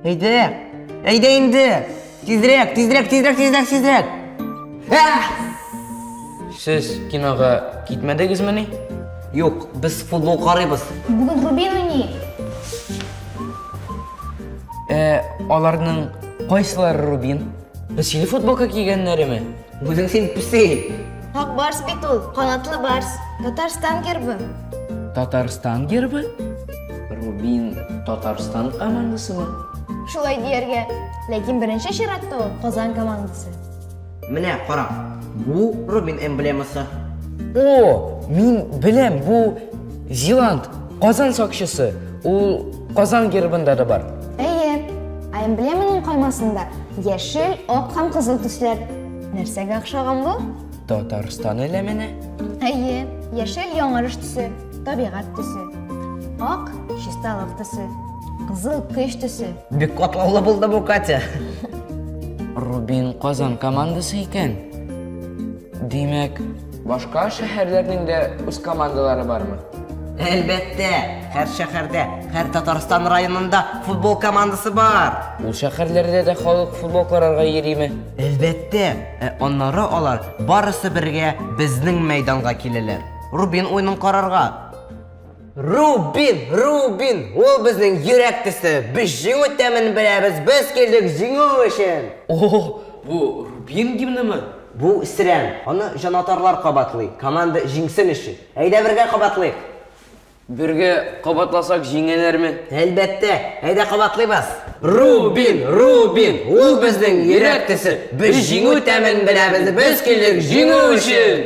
Әйдә! Әйдә инде! Тизрәк, тизрәк, тизрәк, тизрәк, тизрәк! Ә! Сез кинога китмәдегезмени? Юк, без футбол карыйбыз. Бүген Рубин уйный. Ә, аларның кайсылары Рубин? Без сине футболка кигәннәреме? Үзең син песи. Ак барс бит ул, канатлы барс. Татарстан гербы. Татарстан гербы? Рубин Татарстан командасымы? Шулай дияргә. Ләкин беренче чиратта ул Казан командасы. Менә кара, бу Рубин эмблемасы. О, мин беләм, бу Зиланд, Казан сакчысы. Ул Казан гербында да бар. Әйе, ә эмблеманың каймасында яшел, ак һәм кызыл төсләр. Нәрсәгә охшаган бу? Татарстан элеменә. Әйе, яшел яңарыш төсе, табигать төсе. Ак чисталык төсе, кызыл көч төсе. Бик катлаулы булды бу, Катя. Рубин Казан командасы икән. Димәк, башка шәһәрләрнең дә үз командалары бармы? Әлбәттә, һәр шәһәрдә, һәр Татарстан районында футбол командасы бар. Ул шәһәрләрдә дә халык футбол карарга йөриме? Әлбәттә, ә аннары алар барысы бергә безнең мәйданга киләләр, Рубин уенын карарга. Рубин, Рубин, ул безнең йөрәк төсе. Без җиңү тәмен беләбез, без килдек җиңү өчен. О, бу Рубин гимнымы? Бу Сирән. Аны җанатарлар кабатлый, команда җиңсен өчен. Әйдә бергә кабатлыйк. Бергә кабатласак җиңәләрме? Әлбәттә. Әйдә кабатлыйбыз. Рубин, Рубин, ул безнең йөрәк төсе. Без җиңү тәмен беләбез, без килдек җиңү өчен.